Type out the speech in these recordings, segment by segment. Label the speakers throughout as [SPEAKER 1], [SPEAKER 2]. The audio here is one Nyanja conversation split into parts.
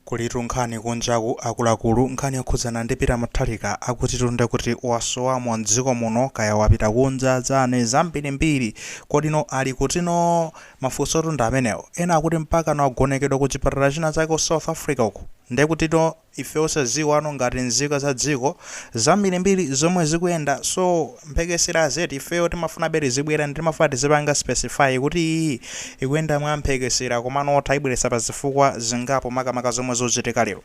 [SPEAKER 1] Kulitu nkhani kunjaku akuluakulu nkhani yokhudzana ndi Peter Mutharika akutitu ndekuti wasowamo mdziko muno kaya wapita kunja chani zambirimbiri kodino ali kutino mafunsotu ndi amenewo ena akuti mpakana wagonekedwa ku chipatala china chake ku South Africa uku ndekutino ife osaziwano ngati nzika za dziko zambirimbiri zomwe zikuyenda so mphekeserazi ifeyo timafunabe tizibwera ndi timafuna tizipanga specify kuti iyi ikuyenda mwa mphekesera komano taibweretsa pa zifukwa zingapo makamaka zomwe zachitika lero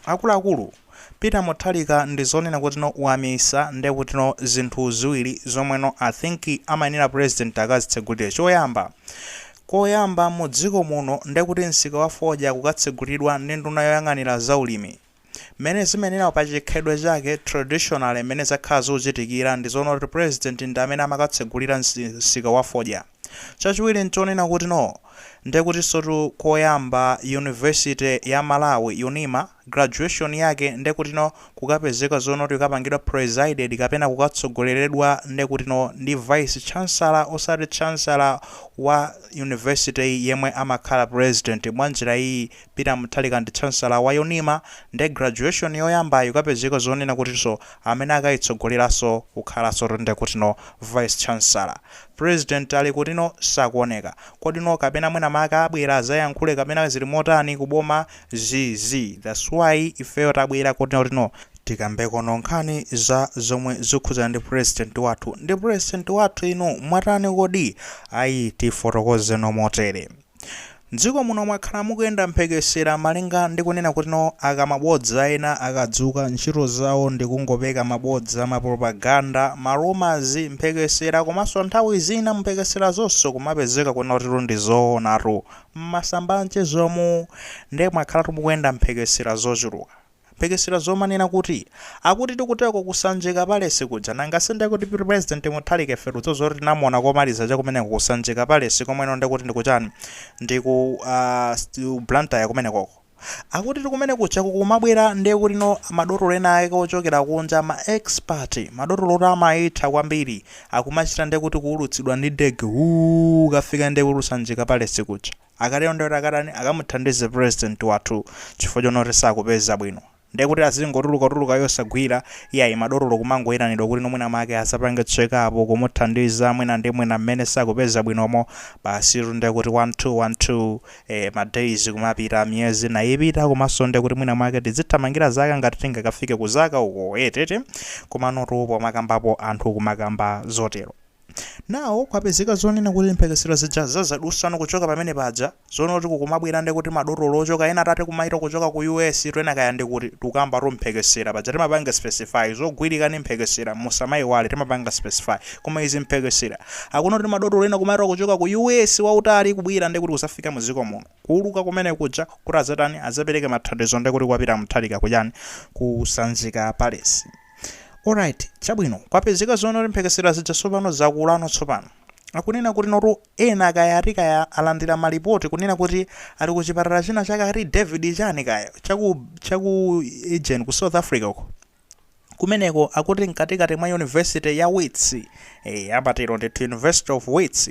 [SPEAKER 1] akuluakulu Peter Mutharika ndi zonena kutino wamisa nde kutino zinthu ziwiri zomweno I think amayenera president akazitsegulire choyamba koyamba mu dziko muno nde kuti msika wa fodya kukatsegulidwa ndi nduna yoyang'anira za ulimi Mmene zimenera pa chikhalidwe chake, traditionally mmene zakhala zikuchitikira ndi zoona kuti president ndi amene amakatsegulira msika wa fodya. Chachiwiri nchonena kutino. Ndekutinsotu koyamba university ya Malawi, UNIMA, graduation yake ndekutino kukapezeka zoona kuti ikapangidwa presided kapena kukatsogoleredwa ndekutino ndi vice chancellor osati chancellor wa university-yi yemwe amakhala president mwanjira iyi. Peter Mutharika ndi Chancellor wa UNIMA nde graduation yoyambayi kukapezeka zonena kutinso amene akayitsogoleraso kukhalaso ndekutino Vice Chancellor. President ali kutiko sakuoneka. Kodino kapena mwina make abwera azayankhule kapena zili motani ku boma zii that's why ifeyo tabwera kutino tikambekono nkhani za zomwe zikukhudzana ndi president wathu. Ndi president wathu inu mwatani kodi? Ayi tifotokozeno motere. M'dziko muno mwakhala mukuyenda mphekesera malinga ndi kunena kutino akamabodza ena akadzuka, ntchito zawo ndi kungopeka mabodza, mapropaganda, marumours, mphekesera komanso nthawi zina mphekeserazoso kumapezeka kunena kutitu ndi zoonatu. M'masamba a mchezomu nde mwakhalatu mukuyenda mphekesera zochuluka. Mphekesera zomanena kuti akuti kuteko ku Sanjika Palesi kuja nanga si nde kuti President Mutharika ife tikudziwa zoti tinamuona komaliza cha kumeneko ku Sanjika Palesi komweno nde kuti ndi ku chani? Ndi ku aah Blantyre kumenekoko. Akutitu kumene kuja kukumabwera nde kutino madotolo ena ake ochokera kunja ma expert, madotolo oti amayitha kwambiri akumachita nde kuti kuulutsidwa ndi ndege wuu kukafika nde kuti ku Sanjika Palesi kuja. akatero ndekuti akatani akamuthandize president wathu chifukwa choona kuti sakupeza bwino ndekuti azingotulukatuluka yosagwira iyayi madotolo kumangoyitanidwa kutino mwina make azapange check up kumuthandiza mwina ndi mwina mmene sakupeza bwinomo basitu ndekuti one two one two eh, ma days kumapita miyezi nayipita komanso ndekuti mwina make tizithamangira zaka ngati tingakafike kuzaka uko etete eh, komanotu pomakambapo anthu kumakamba zotero Now kwapezeka zonena kuti mphekesera zija za zadusano kuchoka pamene paja, zonena kuti kukumabwera nde kuti ma dotolo ochoka ena atate kumaita kuchoka ku US tu ena kaya ndi kuti, tikukamba tu mphekesera paja timapanga specify, zogwirika ndi mphekesera musamaiwale timapanga specify, koma izi mphekesera, akuona kuti ma dotolo ena kumaita kuchoka ku US wautali kubwera nde kuti kuzafika mu dziko muno, kuuluka kumene kuja kuti adzatani, adzapereke mathandizo nde kuti kwa Peter Mutharika kuchani, ku Sanjika Palace. Alright, chabwino, kwapezeka zonena kuti mphekesera zija tsopano zakulano tsopano. Akunena kuti notu ena kaya ati kaya alandira malipoti kunena kuti ali ku chipatala china chake ati David chani kaya chaku chaku Eugene ku South Africa uko. Kumeneko akuti mkatikati mwa University ya Wits, eh amatero ndithu University of Wits.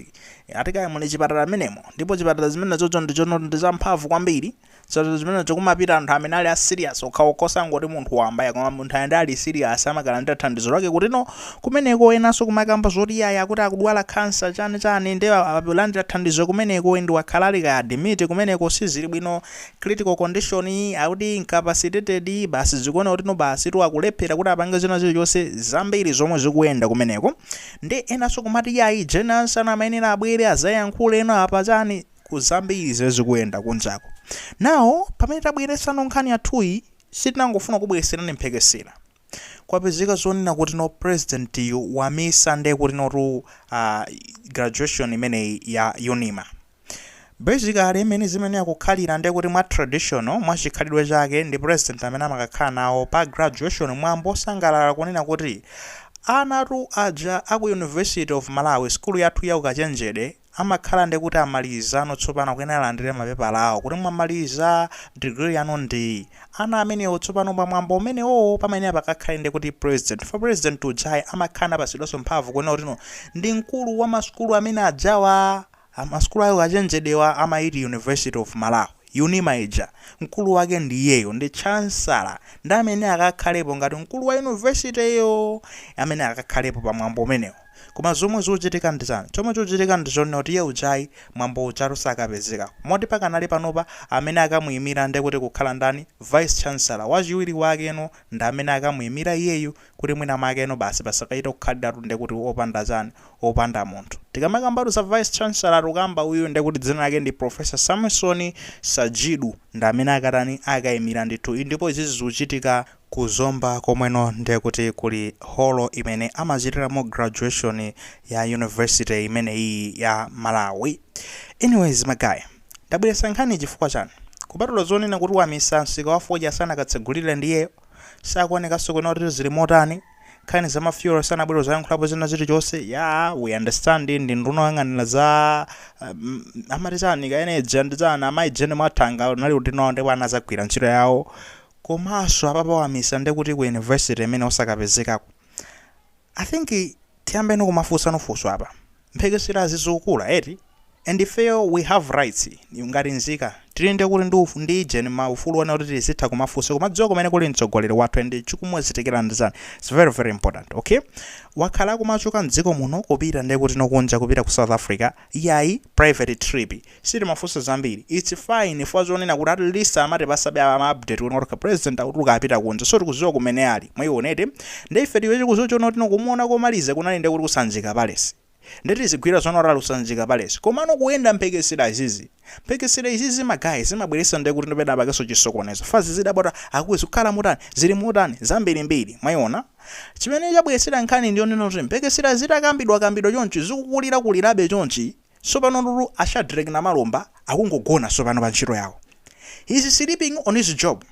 [SPEAKER 1] Ati kaya muli chipatala mmenemo ndipo chipatala zimenezozo ndi zamphamvu kwambiri. so zimenezo kumapita anthu amene ali a serious okhaokha osati ngati munthu wamba ya koma munthu amene ali serious amakalandira thandizo lake kutino kumeneko enanso kumakamba zoti iyayi akuti akudwala kansa chani chani ndi akulandira thandizo kumeneko ndi wakhala ali ku admit kumeneko sizili bwino critical condition iyi akuti incapacitated iyi basi zikuoneka kutino basi tu akulephera kuti apange zina zilizonse zambiri zomwe zikuyenda kumeneko ndi enanso kumati iyayi jenanso ana amayenera abwere azayankhule ena apa chani ku zambiri zimene zikuyenda kunjako now pamene tabweretsano nkhani yathuyi sitinangofuna kubweretserani mphekesera kwapezeka zonena kuti no president uyu wamisa nde kuti notu uh, graduation imeneyi ya unima basically imene zimene akukhalira nde kuti mwa traditional mwa chikhalidwe chake ndi president amene amakakhala nawo pa graduation mwambo osangalala kunena kuti anatu aja aku university of malawi skulu yathu ya ukachenjede amakhala nde kuti amalizano tsopano akuyenera alandire mapepala awo kuti mwamaliza, degree yanu ndi iyi. Ana amenewo tsopano pa mwambo umenewowo pamayenera pakakhale nde kuti president chifukwa president ujayi amakhala napatsidwanso mphamvu kunena kuti no ndi mkulu wa masukulu amene ajawa a masukulu a ukachenjedewa amayiti University of Malawi, unima ija, mkulu wake ndi iyeyo ndi chancellor ndiye amayenera akakhalepo ngati mkulu wa university yo amene akakhalepo pa mwambo umenewo. Koma zomwe zikuchitika ndi chani? Chomwe chikuchitika ndi chonena kuti iye ujayi, mwambo ujatu sakapezeka. Moti pakanali panopa, amene akamuyimira nde kuti kukhala ndani? Vice Chancellor, wachiwiri wakeno ndi amene akamuyimira iyeyu kuti mwina mwakeno basi pasakachite kukhaliratu nde kuti opanda chani? Opanda munthu. Tikamakambatu za Vice Chancellor tikukamba uyuyu nde kuti dzina lake ndi Professor Samson Sajidu, ndi amene akatani? Akayimira ndithu. Ii ndipo izizi zikuchitika Ku Zomba komweno nde kuti kuli holo imene amachitiramo graduation ya university imeneyiyi ya Malawi. Anyways ma guys, ndabweretsa nkhaniyi chifukwa chani? Kupatula zonena kuti wamisa msika wa fodya sanakatsegulire ndiye sakuonekanso kwinaku kuti zili motani, nkhani za ma fuel sanabwere kuzayankhulapo zina zilichonse, yaa we understand ndi nduna yoyang'anira za amati chani ka energy and chani, amayi Jean Mathanga unali udindo wawo ndipo anazagwira ntchito yawo komaso apapa wamisa ndekuti ku university imene osakapezekako i think tiyambeno kumafunsano funso apa mphekeserazi zikukula eti and ifeyo we have rights ngati nzika tili ndekuti ndi uf ndi ijeni ma ufulu onena kuti tizitha kumafunsa kumadziwa kumene kuli mtsogoleri wathu and chikumuchitikira ndichani its very very important okay wakhala akumachoka mdziko muno kupita ndekuti nokunja kupita ku south africa yayi private trip Sitimafunsa zambiri. Its fine chifukwa zonena kuti at least amatipasabe ma update kuti okay president akutuluka apita kunja so tikuziwa kumene ali. Mwayiona eti. Nde ife tilibe chokuziwa chonena kuti no kumuona komaliza kunali nde kuti ku Sanjika palace. Nde tizigwira zonena kuti ali ku Sanjika palace. Komano kuyenda mphekesera izizi. Mphekesera izizi ma guys zimabweretsa nde kuti penapakeso chisokonezo. Chifukwa tizidabwa kuti a kuku zikukhala motani? Zili motani? Zambirimbiri. Mwayiona. Chimene chabweretsera nkhani ndiyonena kuti mphekesera zitakambidwa kambidwa chonchi zikukulira kulirabe chonchi. Sopano nduna a Shadreck Namalomba akungogona sopano pa ntchito yawo. He is sleeping on his job.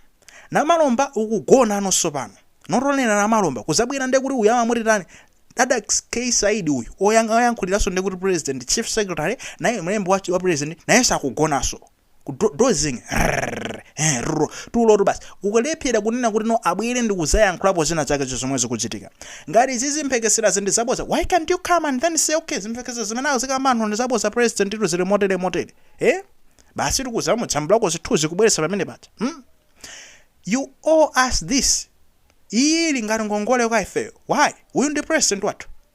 [SPEAKER 1] Namalomba ukugonano sopano. Not only Namalomba kuzabwera nde kuti uyu amamuti tani? Dadax K Saidi uyu oyankhuliraso nde kuti president, chief secretary, naye mlembi wa president nayeso akugonaso. ku do- dozing rrrr, eh, rro, tulotu basi kulephera kunena kuti no abwere ndi kuzayankhulapo zina zake zomwe zikuchitika ngati izi zimphekesera zindi zaboza why can't you come and then say okay zimphekesera zimene zikukamba anthu ndi zaboza president uyu zili motere motere eh basi tikuzamujambulako zithuzi kubweretsa pamene paja hmm? you owe us this iyi ili ngati ngongole kwa ifeyo why uyu ndi president wathu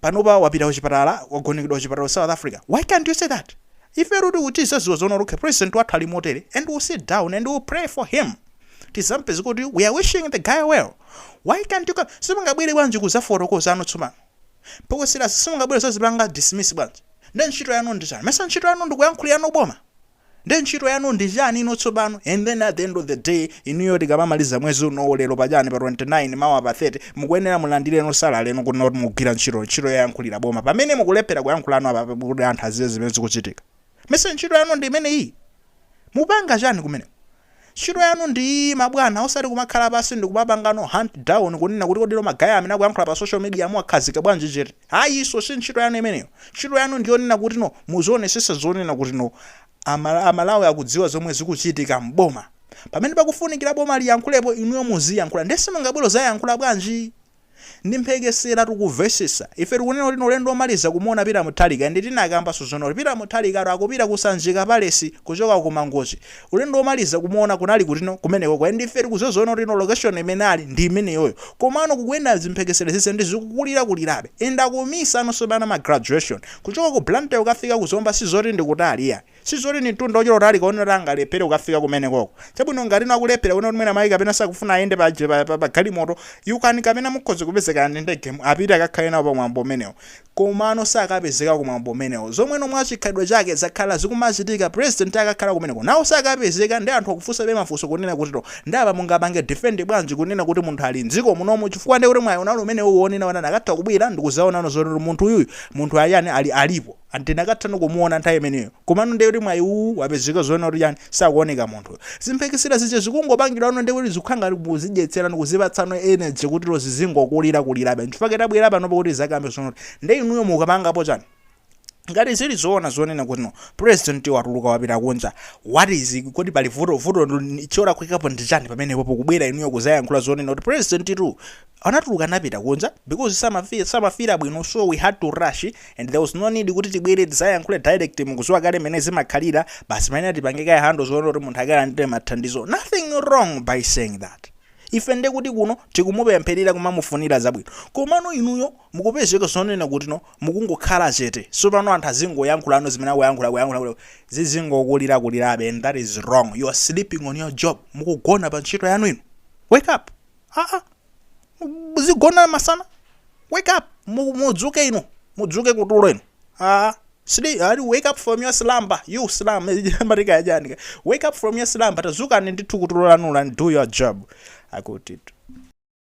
[SPEAKER 1] panopa wapita kuchipatala wagonekedwa kuchipatala ku south africa why can't you say that ifetu kuti tizaziwa zonena kuti okay president wathu ali motere and we'll sit down and we'll pray for him tizampempherere kuti we are wishing the guy well why can't you come simungabwere bwanji kuzafotokoza ano tsopano mphekesera simungabwere zazipanga dismiss bwanji nde ntchito yanu ndi chani mesa ntchito yanu ndikuyankhulirano boma Nde ntchito yanu ndi chani inu tsopano? And then at the end of the day inuyo tikamamaliza mwezi unowu lero pa chani pa 29 mawa pa 30 mukuyenera mulandireno salary yanu kunena kuti mukugwira ntchito, ntchito yoyankhulira boma pamene mukulephera kuyankhulano apa kuti anthu aziwe zimene zikuchitika. Mesa ntchito yanu ndi imeneyiyi? Mupanga chani kumeneko? Ntchito yanu ndi iyi mabwana osati kumakhala pansi ndikumapangano hunt down kunena kuti kodilo ma guy amene akuyankhula pa social media muwakhazika bwanji chete. Ayiso si ntchito yanu imeneyo. Ntchito yanu ndi yonena kutino muzionesesa zonena kutino a a Malawi akudziwa zomwe zikuchitika m'boma. Pamene pakufunikila boma liyankhulepo inuyo muziyankhula. Ndiye simungabwere kuzayankhula bwanji? Ndi mphekesera tikuvesesa. Ife tikunena kutino ulendo omaliza kumuona Peter Mutharika and tinakambanso zonena kuti Peter Mutharika tu akupita ku Sanjika Palace kuchoka ku Mangochi. Ulendo omaliza kumuona kunali kutino? Kumenekoko and ife tikuziwa zonena kutino location imene ali ndi imeneyoyo. Komano kukuyenda zimphekesera zizi and zikukulira kulirabe. And akumisanonso pano ma graduation. Kuchoka ku Blantyre kukafika ku Zomba sizoti ndi kutali iyayi. Si zoti ndi mtunda wochita kutalika wonena kuti angalephere kukafika kumenekoko. Chabwino, ngatino akulephera kunena kuti mwina mwake kapena sakufuna ayende pa, pa, pa, pa galimoto, you can kapena mukhoza kupeza kaya ndi ndege mu, apite akakhale nawo pa mwambo umenewo. Komano sakapezeka ku mwambo umenewo. Zomweno mwa chikhalidwe chake zakhala zikumachitika, pulezidenti akakhala kumeneko. Now sakapezeka ndiye anthu akufunsabe mafunso kunena kutito, ndiye apa mungapange defend bwanji kunena kuti munthu ali m'dziko munomu chifukwa ndiye kuti mwayi unali umenewuwu wonena kuti anakatha kubwera ndi kudzaonano zonena kuti munthu uyuyu, munthu ali chani, ali, alipo. and tinakathano kumuona nthawi imeneyo komano ndiye kuti mwayi uwu wapezeka zonena kuti chani sakuoneka munthu zimphekesera zija zikungopangidwano ndiye kuti zikukhala ngati kuzidyetserano kuzipatsano energy kutiro zizingokulira kulirabe nchifukwa chake tabwera panopo kuti tizakambe zonena kuti ndiye inuyo mukupangapo chani ngati zili zoona zonena kutino president watuluka wapita kunja what is it? kodi pali vuto vuto ndi- cholakwikapo ndi chani pamenepo pokubwera inuyo kuzayankhula zonena kuti president tu anatuluka anapita kunja because samafeela bwino so we had to rush and there was no need kuti tibwere tizayankhule direct mukuziwa kale mene zimakhalira basi pamene tipange kaye handle zonena kuti munthu akalandire mathandizo nothing wrong by saying that ife nde kuti kuno tikumupempherera kumamufunira zabwino komano inuyo mukupezeka zonena kutino mukungokhala chete so pano anthu azingoyankhulano zimene akuyankhula kuyankhula zizingokulira kulirabe and that is wrong you are sleeping on your job mukugona pa ntchito yanu inu wake up aa muzigona masana wake up mu- mudzuke inu mudzuke kutulo inu aa sidi ali wake up from your slumber you slum amarika ajanika wake up from your slumber tazukani ndithu kutulo lanulo and do your job akuti